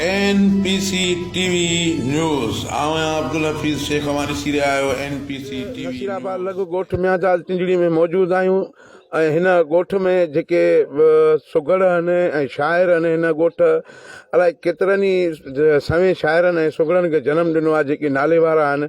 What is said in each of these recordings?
N P C T V news آئون آهيان عبدالحفيظ شيخ اوهان ڏسي رهيا آهيو N P C T V Nasirabad news. لڳ ڳوٺ ميانجاز ٽنڊڙي ۾ موجود آهيون ۽ هن ڳوٺ ۾ جيڪي سگهڙ آهن ۽ شاعر آهن هن ڳوٺ الائي ڪيترن ئي سوين شاعرن ۽ سگهڙن کي جنم ڏنو آهي جيڪي ناليوارا آهن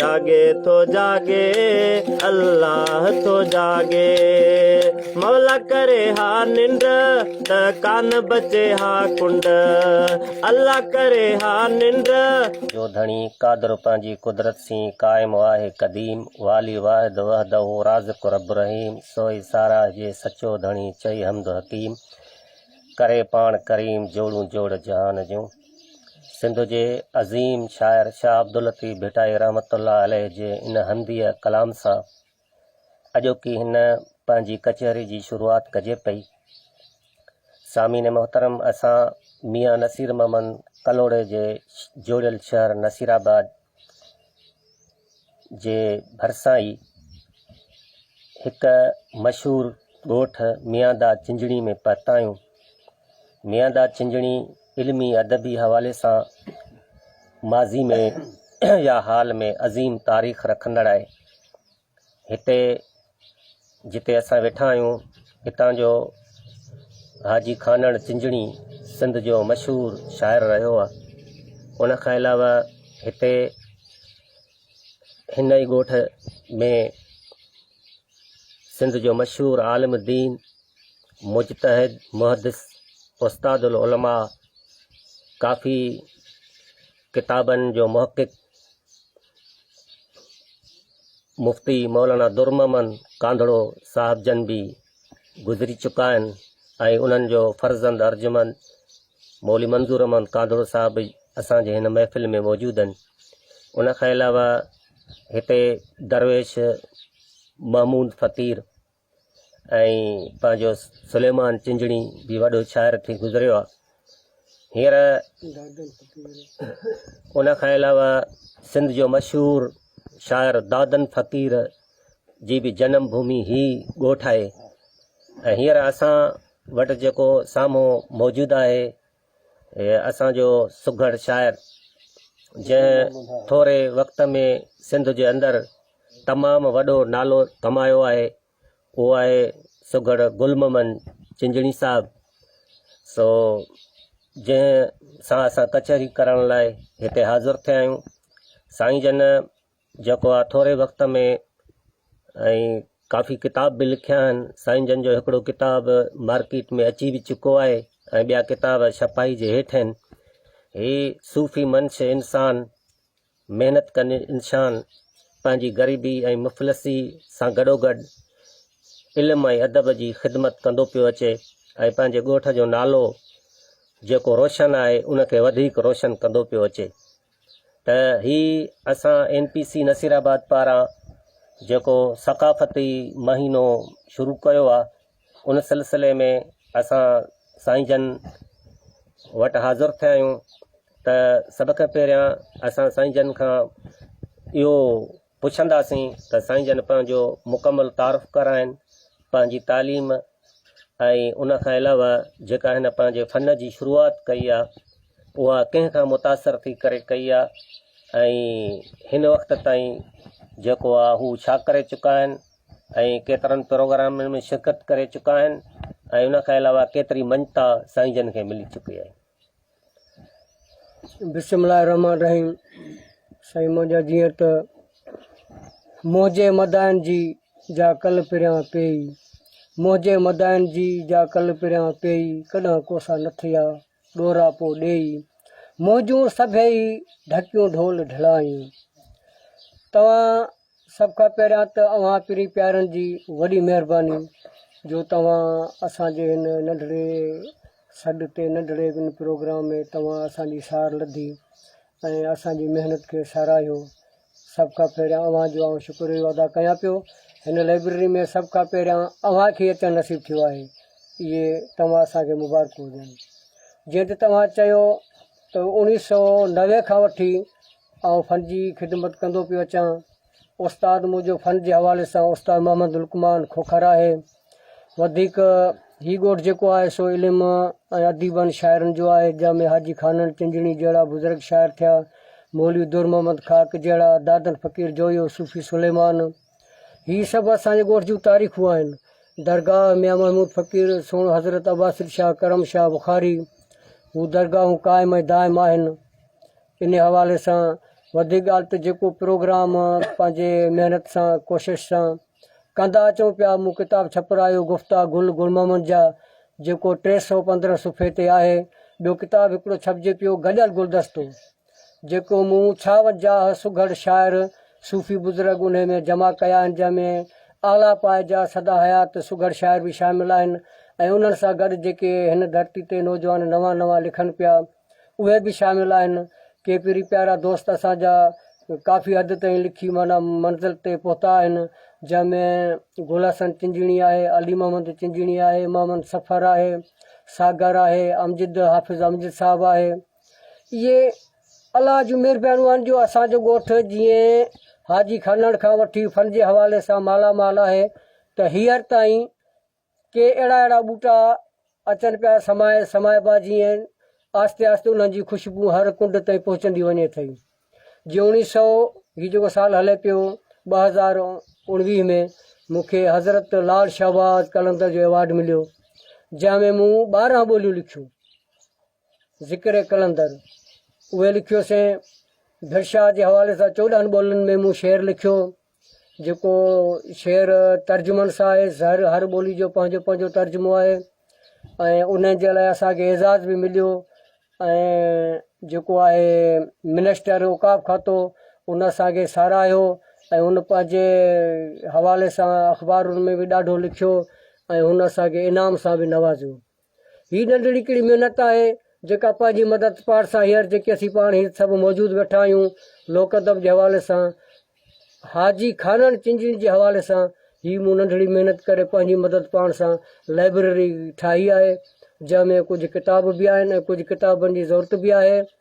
جاڳي ٿو جاڳي الله ٿو جاڳي مولا ڪري ها ننڊ ته ڪان بچي ها ڪنڊ الله ڪري ها ننڊ جو ڌڻي قادر پنهنجي قدرت سين قائم واحد قديم والي واحد وحده رازق رب رحيم سوئي ساراهه جي سچو ڌڻي چئي حمد حڪيم ڪري پاڻ ڪريم جوڙون جوڙ جهان جون. سنڌ جي عظيم شاعر شاهه عبداللطيف ڀٽائي رحمت الله عليه جي ان هنديء ڪلام سان اڄوڪي هن پنهنجي ڪچهري جي شروعات ڪجي پئي. سامعين محترم اسان ميان نصير محمد ڪلهوڙي جي جوڙيل شهر نصير آباد جي ڀرسان ئي هڪ مشهور ڳوٺ مياندا چنجڻي ۾ پهتا آهيون مياندا چنجڻي علمي ادبي حوالي سان ماضي ۾ يا حال ۾ عظيم تاريخ رکندڙ آهي هتي جتي اسان ويٺا آهيون هتان جو حاجي خانڻ چنجڻي سنڌ جو مشهور شاعر رهيو آهي ان کان علاوه هتي هن ئي ڳوٺ ۾ سنڌ جو مشهور عالم دين مجتهد محدث استاد العلماء ڪافي ڪتابن جو محقق مفتي مولانا در محمد ڪانڌڙو صاحب جن به گذري چڪا آهن ۽ انهن جو فرزند ارجمند مولي منظور احمد ڪانڌڙو صاحب به اسان جي هن محفل ۾ موجود آهن ان کان علاوه هتي درويش محمود فقير ۽ پنهنجو سليمان چنجڻي به وڏو شاعر ٿي گذريو آهي هينئر ان کان علاوه سنڌ جو مشهور شاعر دادن فقير جي به جنم ڀومي هي ڳوٺ آهي ۽ هينئر اسان وٽ جيڪو سامهون موجود آهي هي اسان جو سگهڙ شاعر جنهن ٿوري وقت ۾ سنڌ جي اندر تمام وڏو نالو ڪمايو آهي اهو آهي سگهڙ گل محمد چنجڻي صاحب سو جنهن سان اسان ڪچهري ڪرڻ لاء هتي حاضر ٿيا آهيون سائين جن جيڪو آ ٿوري وقت ۾ ۽ ڪافي ڪتاب به لکيا آهن سائين جن جو هڪڙو ڪتاب مارڪيٽ ۾ اچي به چڪو آهي ۽ ٻيا ڪتاب ڇپائي جي هيٺ آهن هي صوفي منش انسان محنت ڪن انسان پنهنجي غريبي ۽ مفلسي سان گڏوگڏ علم ۽ ادب جي خدمت ڪندو پيو اچي ۽ پنهنجي ڳوٺ جو نالو جيڪو روشن آهي ان کي وڌيڪ روشن ڪندو پيو اچي ته هي اسان اين پي سي نصيرآباد پاران جيڪو ثقافتي مهينو شروع ڪيو آهي ان سلسلي ۾ اسان سائين جن وٽ حاضر ٿيا آهيون ته سڀ کان پهريان اسان سائين جن کان اهو پڇنداسين ته سائين جن پنهنجو مڪمل تعارف ڪرائين، پنهنجي تعليم ۽ ان کان علاوه جيڪا هن پنهنجي فن جي شروعات ڪئي آ اها ڪنهن کان متاثر ٿي ڪري ڪئي آ ۽ هن وقت تائين جيڪو آ هو ڇا ڪري چڪا آهن ۽ ڪيترن پروگرامن ۾ شرڪت ڪري چڪا آهن ۽ ان کان علاوه ڪيتري مڃتا سائين جن کي ملي چڪي آهي. بسم الله الرحمن الرحيم سائين منهنجا جيئن ته منهنجي مدائن جي جا ڪل پريان پيئي منهنجي مدائن جي جا ڪل پريان پيئي ڪڏهن ڪوسا نه ٿيا ڏورا پو ڏيئي منهنجون سڀئي ڍڪيون ڍول ڍلائي توهان سڀ کان پهريان ته اوهان پرين پيارن جي وڏي مهرباني جو توهان اسان جي هن ننڍڙي سڏ تي ننڍڙي هن پروگرام ۾ توهان اسان جي سار لڌي ۽ اسان جي محنت کي ساراهيو سڀ کان پهريان اوهان جو آئون شڪريو ادا ڪيان پيو هن لائبرري ۾ سڀ کان پهريان اوهان کي اچڻ نصيب ٿيو آهي اهي توهان اسان کي مبارڪون ڏين جيئن ته توهان چيو ته اوڻيهه سؤ نوي کان وٺي آئون فن جي خدمت ڪندو پيو اچان. استاد منهنجو فن جي حوالي سان استاد محمد لقمان کوکر آهي. وڌيڪ هي ڳوٺ جيڪو آهي سو علم ۽ اديبن شاعرن جو آهي جنهن ۾ حاجي خانڻ چنجڻي جهڙا بزرگ شاعر ٿيا، مولوي در محمد خاڪ جهڙا، دادن فقير جويو، صوفي سليمان. هي سڀ اسان جي ڳوٺ جون تاريخون آهن. درگاهه ميان محمود فقير، سوڻ حضرت عباسط شاهه، ڪرم شاهه بخاري. هو درگاهون قائم ۽ دائم آهن. انهي حوالي سان وڌيڪ ڳالهه ته جيڪو پروگرام پنهنجي محنت سان ڪوشش سان ڪندا اچون پيا مون ڪتاب ڇپرايو گفتا گل گل محمد جا جيڪو ٽي سؤ پندرهن صفحي تي آهي ٻيو ڪتاب هڪڙو ڇپجي پيو گڏيل گلدستو جيڪو مون ڇا وجاهه سگهڙ شاعر صوفي بزرگ انهي ۾ جمع ڪيا آهن جنهن ۾ اعليٰ پائي جا سدا حيات سگهڙ شاعر به شامل آهن ۽ انهن سان گڏ جيڪي هن ڌرتي تي نوجوان نوان نوان لکن پيا اهي به شامل آهن. ڪي پيري پيارا دوست اسان جا ڪافي حد تائين لکي معنيٰ منزل تي پهتا آهن، جنهن ۾ گل حسن چنجڻي آهي، علي محمد چنجڻي آهي، محمد سفر آهي، ساگر آهي، امجد حافظ امجد صاحب آهي. اهي الله جون مهربانيون آهن جو اسان جو ڳوٺ جيئن حاجي خانڻ کان وٺي فن جي حوالي سان مالا مال آهي ته هينئر تائين ڪي اهڙا اهڙا ٻوٽا اچن پيا سمائي سمائبا جيئن آهستي آهستي انهن جي خوشبو هر ڪنڊ تائين پهچندي وڃي ٿي جي اوڻيهه سئو هي جيڪو سال هلي پيو ٻه هزار اوڻويهه ۾ مون کي حضرت لال شهباز قلندر جو ايوارڊ مليو جنهن ۾ مون ٻارهن ٻوليون لکيون ذڪر قلندر اهي لکيوسين ڀرشا جي حوالي سان چوڏهن ٻولين ۾ مون شعر لکيو جيڪو شعر ترجمن سان آهي ظاهر هر ٻولي جو پنهنجو پنهنجو ترجمو آهي ۽ ان جي لاء اسانکي اعزاز به مليو ۽ جيڪو آهي منسٽر اوقاف کاتو ان اسانکي ساراهيو ۽ ان پنهنجي حوالي سان اخبارن ۾ به ڏاڍو لکيو ۽ هن اسانکي انعام سان به نوازيو هي ننڍڙي هڪڙي محنت آهي، جيڪا پنهنجي مدد پارسا هيئر جيڪي اسين پاڻ هيت سڀ موجود ويٺا آهيون، لوڪ ادب جي حوالي سان حاجي خانڻ چنجڻي جي حوالي سان هي مون ننڍڙي محنت ڪري پنهنجي مدد پاڻ سان لائبرري ٺاهي آهي، جنهن ۾ ڪجهه ڪتاب به آهن ۽ ڪجهه ڪتابن جي ضرورت به آهي.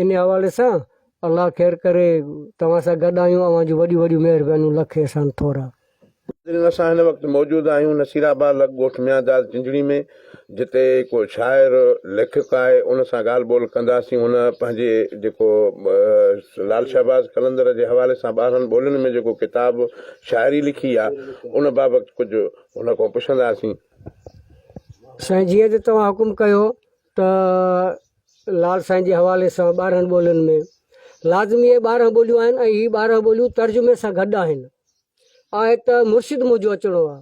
انهي حوالي سان الله خير ڪري توهان سان گڏ آهيون اوهان جون وڏيون وڏيون مهربانيون لک احسان ٿورا. ناظرين اسان هن وقت موجود آهيون نصير آباد لڳ ڳوٺ ميان داد چنجڙي ۾ جتي هڪ شاعر ليکڪ آهي ان سان ڳالهه ٻولهه ڪنداسين هن پنهنجي جيڪو لال شهباز قلندر جي حوالي سان ٻارهن ٻولين ۾ جيڪو ڪتاب شاعري لکي آهي ان بابت ڪجهه هن کان پڇنداسين. سائين جيئن ته توهان حڪم ڪيو ته لال سائين جي حوالي سان ٻارهن ٻولين ۾ لازمي اهي ٻارهن ٻوليون آهن ۽ هي ٻارهن ٻوليون ترجمي سان گڏ آهن. آهي ته مرشد منهنجو اچڻو آ.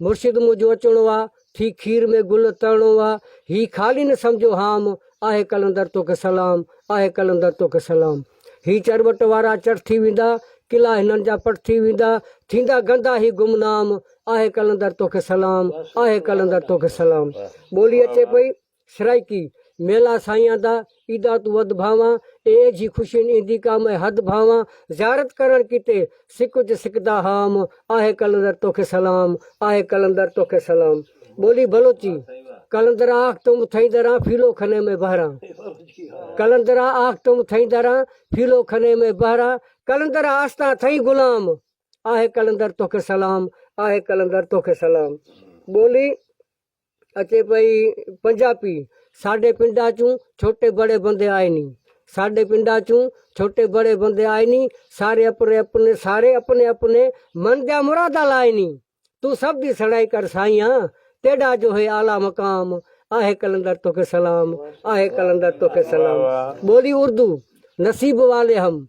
مرشد منهنجو اچڻو آ، ٿي کير ۾ گل ترڻو آ، هي خالي نه سمجهو هام، آهي قلندر توکي سلام، آهي قلندر توکي سلام. هي چرٻٽ وارا چڙ ٿي ويندا، قلعا هنن جا پٽ ٿي ويندا، ٿيندا گندا هي گمنام، آهه قلندر توکي سلام، آهه قلندر توکي سلام. ٻولي اچي پئي سرائيڪي، ميلا سائيان دا، ايدا تون وڌ ڀانوان، اي ايجهي خوشين ايندي ڪا مئي حد ڀانوان، زيارت ڪرڻ ڪيتي، سڪ اچ سڪ تان حام، آهي قلندر توکي سلام، آهي قلندر توکي سلام. ٻولي بلوچي، قلندرا آخ تم ٿئي دران ڦيلو کني ۾ بهران، قلندرا آخ تم ٿئي دران ڦيلو کني ۾ بهران، قلندرا آستان ٿئي غلام، آهي قلندر توکي سلام، آهي قلندر توکي سلام. ٻولي اچي پئي پنجاپي، ساڍي پنڊاچون ڇوٽي بڙي بندي آئيني، ساڍي پنڊاچون ڇوٽي بڙي بندي آئيني، ساري اپني اپني ساري اپني اپني من ديا مرادا لائيني، تون سڀ دي سڙائي ڪر سائينء، تيڏا جو هي اعليٰ مقام، آهي قلندر توکي سلام، آهي قلندر توکي سلام. ٻولي اردو، نصيب والي هم،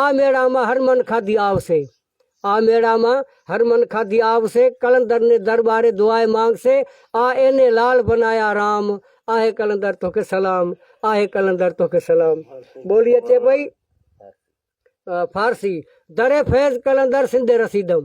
آء ميڙا مان هر من کاڌي آو سي. آء ميڙا مان هر من کاڌي آو سي قلندر ني درٻاري دعائي مانگ سي آء ايني لال بنايا رام آهي قلندر توکي سلام آهي قلندر توکي سلام ٻولي اچي پئي فارسي در فيض قلندر سندي رسيدم.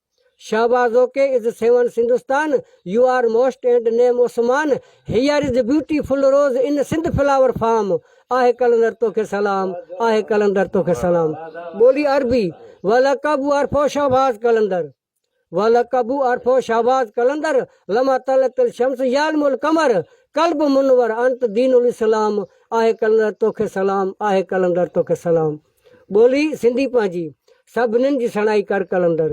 Shahbaz okay is seven Sindhistan you are most and name Usman here is beautiful rose in Sindh flower farm آهي قلندر توکي سلام آهي قلندر توکي سلام ٻولي عربي ولقب عرفو شهباز قلندر ولقب عرفو شهباز قلندر لما طلعت الشمس يعلم القمر قلب منور انت دين الاسلام آهي قلندر توکي سلام آهي قلندر توکي سلام. ٻولي سنڌي پنهنجي، سڀنن جي سڻائي ڪر قلندر،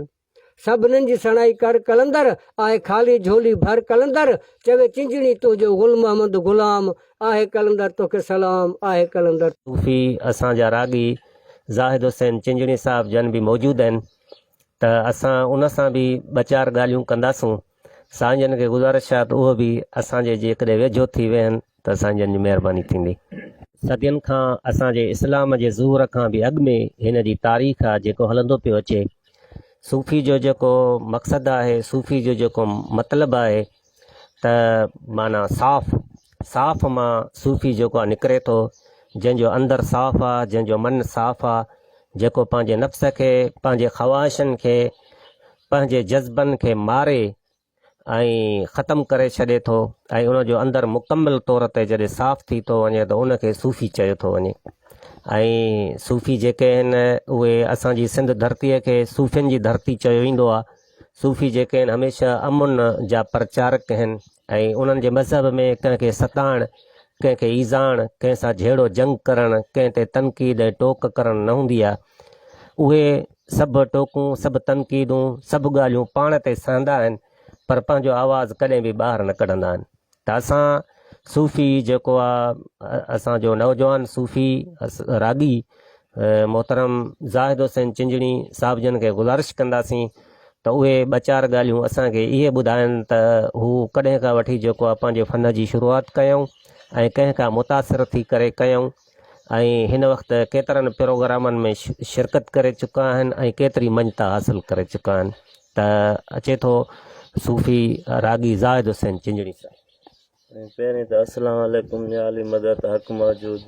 سڀنن جي سڻائي ڪر قلندر، آهي خالي جهولي ڀر قلندر، چوي چنجڻي تنهنجو گل محمد غلام، آهي قلندر توکي سلام، آهي قلندر. صوفي اسان جا راڳي زاهد حسين چنجڻي صاحب جن به موجود آهن ته اسان ان سان به ٻه چار ڳالهيون ڪنداسون. سائين جن کي گذارش آهي ته اهي به اسان جي جيڪڏهن ويجهو ٿي ويهن ته سائين جن جي مهرباني ٿيندي. صدين کان اسان جي اسلام جي ظهور کان به اڳ ۾ هن جي تاريخ آهي جيڪو هلندو پيو اچي. صوفي جو جيڪو مقصد آهي، صوفي جو جيڪو مطلب آهي ته معنيٰ صاف، صاف مان صوفي جيڪو آهي نڪري ٿو، جنهن جو اندر صاف آهي، جنهن جو من صاف آهي، جيڪو پنهنجي نفس کي، پنهنجي خواهشن کي پنهنجي جذبن کي ماري ۽ ختم ڪري ڇڏي ٿو ۽ ان جو اندر مڪمل طور تي جڏهن صاف ٿي ٿو وڃي ته ان کي صوفي چيو ٿو وڃي ۽ صوفي جيڪي آهن اهي اسان جي سنڌ ڌرتيء کي صوفين جي ڌرتي چيو ويندو آهي صوفي جيڪي آهن هميشه امن جا پرچارڪ آهن ۽ انهن جي مذهب ۾ ڪنهن کي ستائڻ، ڪنهن کي ايذائڻ، ڪنهن سان جهيڙو جنگ ڪرڻ، ڪنهن تي تنقيد ۽ ٽوڪ ڪرڻ نه هوندي آهي. اهي سڀ ٽوڪون، سڀ تنقيدون، سڀ ڳالهيون پاڻ تي سهندا آهن، پر پنهنجو آواز ڪڏهن به ٻاهر نه ڪڍندا آهن. ته اسان صوفي جيڪو آهي، اسان جو نوجوان صوفي راڳي محترم زاهد حسين چنجڻي صاحب جن کي گذارش ڪنداسين ته اهي ٻه چار ڳالهيون اسان کي اهي ٻڌائن ته هو ڪڏهن کان وٺي جيڪو آ پنهنجي فن جي شروعات ڪيائون ۽ ڪنهن کان متاثر ٿي ڪري ڪيائون ۽ هن وقت ڪيترن پروگرامن ۾ شرڪت ڪري چڪا آهن ۽ ڪيتري مڃتا حاصل ڪري چڪا آهن ته اچي ٿو صوفي راڳي زاهد حسين چنجڻي صاحب پهرين ته السلام عليڪم يا علي مدد حق موجود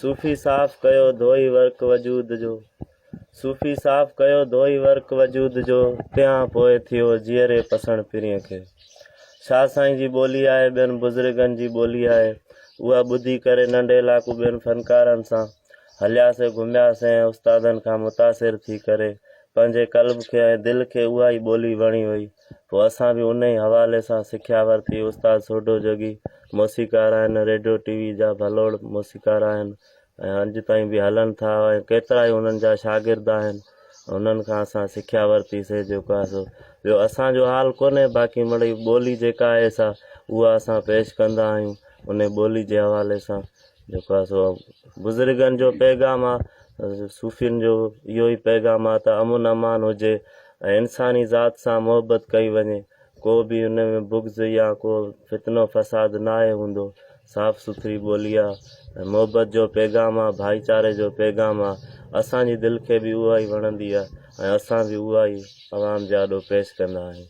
صوفي صاف ڪيو ڌوئي ورق وجود جو صوفي صاف ڪيو ڌوئي ورق وجود جو تيان پوء ٿيو جيئري پسڻ پرين کي شاهه سائين جي ٻولي آهي ٻين بزرگن جي ٻولي آهي اها ٻڌي ڪري ننڍي لاکو ٻين فنڪارن سان هلياسين گهمياسين ۽ استادن کان متاثر ٿي ڪري پنهنجي قلب کي ۽ دل کي اها ئي ٻولي وڻي وئي پوء اسان به انهي حوالي سان سکيا ورتي. استاد سوڍو جوڳي موسيقار آهن، ريڊيو ٽي وي جا ڀلوڙ موسيقار آهن ۽ اڄ تائين به هلن ٿا ۽ ڪيترائي انهن جا شاگرد آهن، انهن کان اسان سکيا ورتي سي جيڪو آهي سو ٻيو اسان جو حال ڪونهي باقي مڙئي ٻولي جيڪا آهي سا اها اسان پيش ڪندا آهيون انهي ٻولي جي حوالي سان جيڪو آهي سو بزرگن جو پيغام آ صوفين جو اهو ئي پيغام آ ته امن امان هجي ۽ انساني ذات سان محبت ڪئي وڃي ڪو به ان ۾ بغض يا ڪو فتنو فساد نه آهي هوندو صاف سٿري ٻولي آ ۽ محبت جو پيغام آ ڀائيچاري جو پيغام آ اسان جي دل کي به اها ئي وڻندي آ ۽ اسان به اها ئي عوام جي آڏو پيش ڪندا آهيون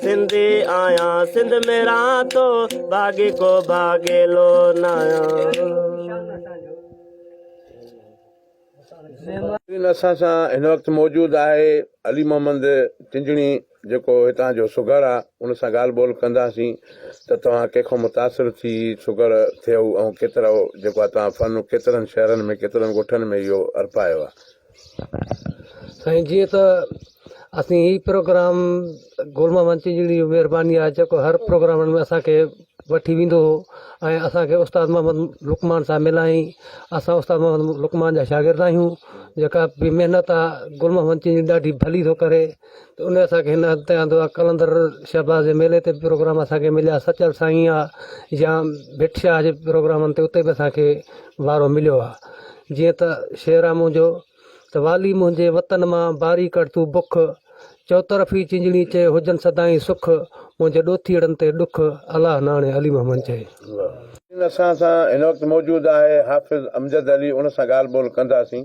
سنڌي آهيان سنڌ ۾ رهان ٿو ڀاڳي ڪو ڀاڳيلو ناهيان. اسان سان هن وقت موجود آهي علي محمد چنجڻي جيڪو هتان جو سگهڙ آ ان سان ڳالهه ٻولهه ڪنداسين ته توهان ڪنهن کان متاثر ٿي سگهڙ ٿيو ۽ ڪيترو جيڪو آ توهان فن ڪيترن شهرن ۾ ڪيترن ڳوٺن ۾ اهو ارپايو آ. سائين جيئن ته اسين هي پروگرام گل محمد چيجڙي جي مهرباني آهي جيڪو هر پروگرام ۾ اسان کي وٺي ويندو هو ۽ اسان کي استاد محمد لقمان صاحب ملائين اسان استاد محمد لقمان جا شاگرد آهيون جيڪا بي محنت آهي گل محمد چيجڙي ڏاڍي ڀلي ٿو ڪري ته ان اسان کي هن هنڌ تي آندو آهي قلندر شهباز جي ميلي تي به پروگرام اسان کي مليا سچل سائين آ يا ڀٽ شاهه جي پروگرامن تي اتي به اسان کي وارو مليو آهي جيئن ته شعر آ منهنجو ته والي منهنجي وطن مان باري ڪڙ تون بک چوطرفي چينجڙي چئي هجن سدائين سک منهنجي ڏوٿيئڙن تي ڏک الله ناڻي علي محمد چئي اسان سان هن وقت موجود آهي حافظ امجد علي ان سان ڳالهه ٻولهه ڪنداسين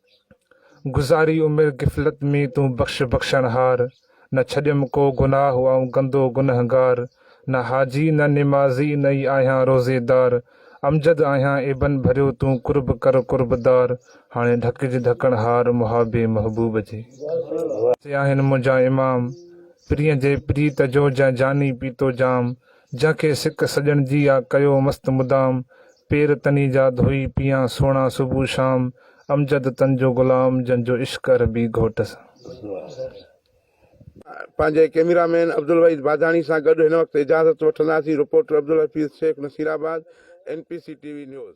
گذاري عمر غفلت ۾ تون بخش بخشڻهار، نه ڇڏيم ڪو گناهه آئون گندو گنهگار، نه حاجي نه نمازي نه ئي آهيان روزيدار، امجد آهيان ابن ڀريو تون قرب ڪر قربدار، هاڻي ڍڪج ڍڪڻهار محابي محبوب جي. سي آهن منهنجا امام پرينء جي پريت جو جنهن جاني پيتو جام، جنهن کي سڪ سڄڻ جي آ ڪيو مست مدام پير تني جا ڌوئي پيان سهڻا صبح شام امجد تن جو غلام جنهن جو عشق عربي گهوٽ سان. پنهنجي ڪيميرا مين عبدالوحيد باداڻي سان گڏ هن وقت اجازت وٺنداسين reporter Abdul Hafeez Shaikh Nasirabad, N P C T V news.